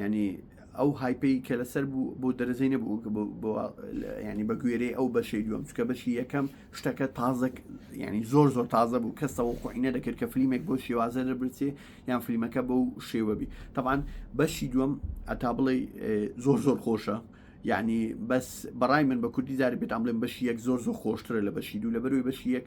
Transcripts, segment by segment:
ینی ئەو هایپی کە لەسەر بوو بۆ دەرەزەی نەبوو ینی بە گوێرەی ئەو بەشەی دووەم چکە بەشی یەکەم شتەکە تازە ینی زۆر زۆر تازە بوو کەسەوە خۆینە دەکرد کە فلیمێک بۆ شێوازە دەبرچێ یان فلیمەکە بەو شێوەبی تەوان بەشی دووەم ئەتا بڵێ زۆر زۆر خۆشە یعنی بەس بەڕای من بە کوردی زاری بێتان بڵێن بەشی یەک زۆر زۆر خۆشترە لە بەشی دوو لە بەروی بەشی یەک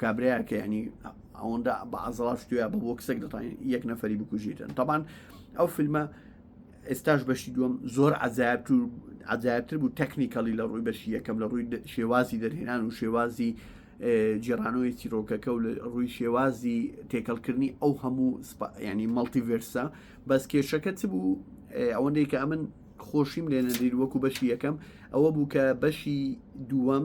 کابرایە کە ینی ئەوەندا بە ئازڵا شتوە بە بۆ کسێک دەتوان یەک نەفری بکوژیتن تاان ئەو فیلمە ئێستاش بەشی دووەم زۆر عجااب تو عجاابتر بوو تەکنیکەڵی لە ڕووی بەشی یەکەم لە ڕووی شێوازی دەرهێنان و شێوازی جێرانەوەی چیرۆکەکە و لە ڕووی شێوازی تێکەڵکردنی ئەو هەموو ینی مەڵتیڤرسە بەس کێشەکە چ بوو ئەوەندەی کە ئەمن خۆشیم لێ نەدیر وەکو بەشی یەکەم ئەوە بوو کە بەشی دووەم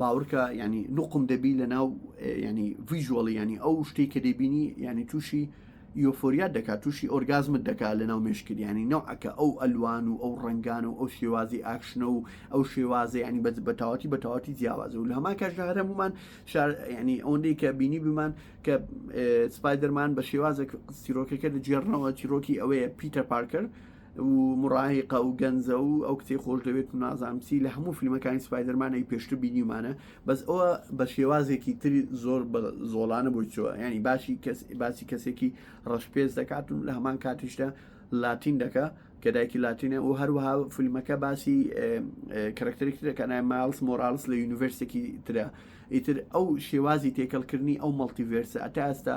باوەڕکە ینی نوقم دەبی لە ناو ینی ڤژوەڵی ینی ئەو شتی کە دەبینی ینی تووشی یۆفۆریات دەکات تووشی ئۆرگازمت دەکات لە ناو مشکریانی نەوعەکە ئەو ئەلوان و ئەو ڕنگان و ئەو شێوازی ئاکشنە و ئەو شێوازە ینی بە بەتاواتی بەتاواتی جیاوازە و لە هەمان کاشدا هەرمومان ینی ئەوەندەی کە بینی بمان کە سپایدەرمان بە شێوازە سیرۆکەکە دەجێڕنەوە چیرۆکی ئەوەیە پیتە پارکەر و مڕاهقە و گەنجە و ئەو کتێ خۆش دەوێت و نازانم چی لە هەموو فیلمەکانی سپایدەرمانەی پێشتر بینیمانە بەس ئەوە بە شێوازێکی تری زۆر بە زۆڵانە بۆی چوە ینی باشی کەس باسی کەسێکی ڕەشپێز دەکات و لە هەمان کاتیشدا لاتین دەکە کە دایکی لاتینە و هەروەها فیلمەکە باسی کەرەکتەرێکی دەکەنای ماڵس مۆرالس لە یونیڤرسێکی ترە ئیتر ئەو شێوازی تێکەڵکردنی ئەو مەڵتیڤێرسە ئەتا ئێستا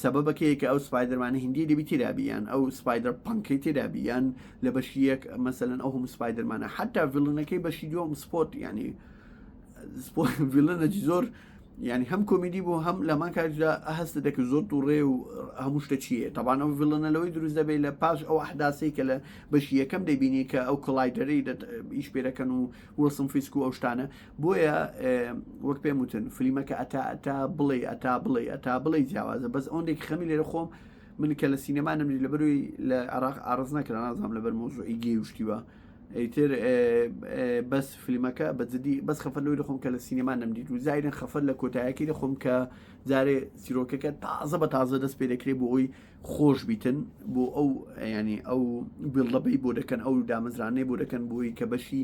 سەبەبەکەیە کە ئەو سپایدەرمانە هندی دەبی تێرابییان ئەو سپایدەر پنکەی تێرابییان لە بەشی یەک مەسەن ئەو هەم سپایدەرمانە حتا ڤلنەکەی بەشی دوم سپۆت ینی ڤلنەجی زۆر ینی هەم کۆمیدی بۆ هەم لەمان کاردا هەستە دەکە زۆر دوڕێ و هەموو شتە چیە تاوان ئەو ڤلنە لەوەی دروست دەبێت لە پاش ئەو ئەحداسی کە لە بەشی یەکەم دەبینی کە ئەو کڵایدەری ئیش پێەکەن و وەسم فیسک و ئەو شتانە بۆیە وەک پێم وتن فلیمەکە ئەتا ئەتا بڵێ ئەتا بڵێ ئەتا بڵێ جیاوازە بەس ئەوەندێک خەمی لێرە خۆم من کە لە سینەما نەمری لە بەروی لە عراق ئارز نەکرا نازانام لەبەر مۆزوعی گێ وشتیوە ئەیتر بەس فلیمەکە بەجددی بەس خەفەر لەوەی خۆم کە لە سینەما نەمدیت و زایرن خەفەر لە کۆتایەکەی لە خۆم کە جارێ سیرۆکەکە تازە بە تازە دەست پێ دەکرێت بۆ ئەوی خۆش بیتن بۆ ئەو ینی ئەو بڵدەبەی بۆ دەکەن ئەو دامەزرانەی بۆ دەکەن بۆی کە بەشی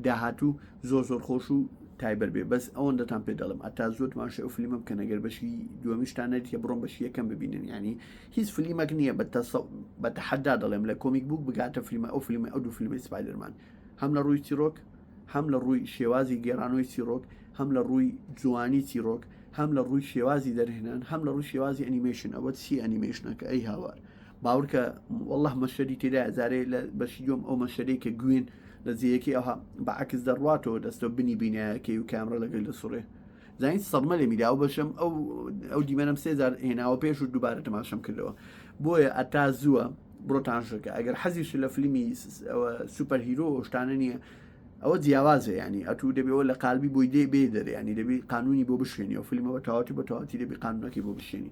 داهاتوو زۆر زۆر خۆش و تایبەت بێ بەس ئەوەندەتان پێ دەڵم ئەتا زۆر ماشە ئەو فلیمە بکەن ئەگەر بەشی دووەمیشتان نەریتە بڕۆم بەشی یەکەم ببینن ینی هیچ فلیمەک نییە بە بە تەحەدا دەڵێم لە کۆمیک بوو بگاتە فلیمە ئەو فلیمە ئەو دوو فیلمی سپایدرمان هەم لە ڕووی چیرۆک هەم لە ڕووی شێوازی گێرانەوەی چیرۆک هەم لە ڕووی جوانی چیرۆک هەم لە ڕووی شێوازی دەرهێنان هەم لە ڕووی شێوازی ئەنیمەشن ئەوە چی ئەنیمەشنەکە ئەی هاوار باوەرکە واللە مەشەری تێدا زارەیە لە بەشی دوم ئەو مەشەری کە گوێن لە زیەکی ئەوها بەعکس دەڕاتەوە دەستەوە بنی بینایەکەی و کامرە لەگەل لە سوڕێ زین سەدمە لێ میدا و بەشم ئەو ئەو دیمەنم سێزار هێناوە پێش و دووبارە تەماشەم کردەوە بۆیە ئەتا زووە بڕۆتانشەکە ئەگەر حەزیش لە فلیمی سوپەر هیرۆ شتانە نییە ئەوە جیاوازە ینی ئەتو دەبێەوە لە قالبی بۆی دێ بێ دەرێ ینی دەبی قانونی بۆ بشێنی و فیلمەوە تاواتی بە تاواتی دەبی قانونەکەی بۆ بشێنی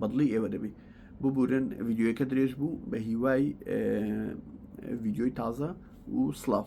بەدڵی ئێوە دەبی ببورن ڤیددیوەکە درێژ بوو بە هیوای ڤیددیۆی تازە و سلااو.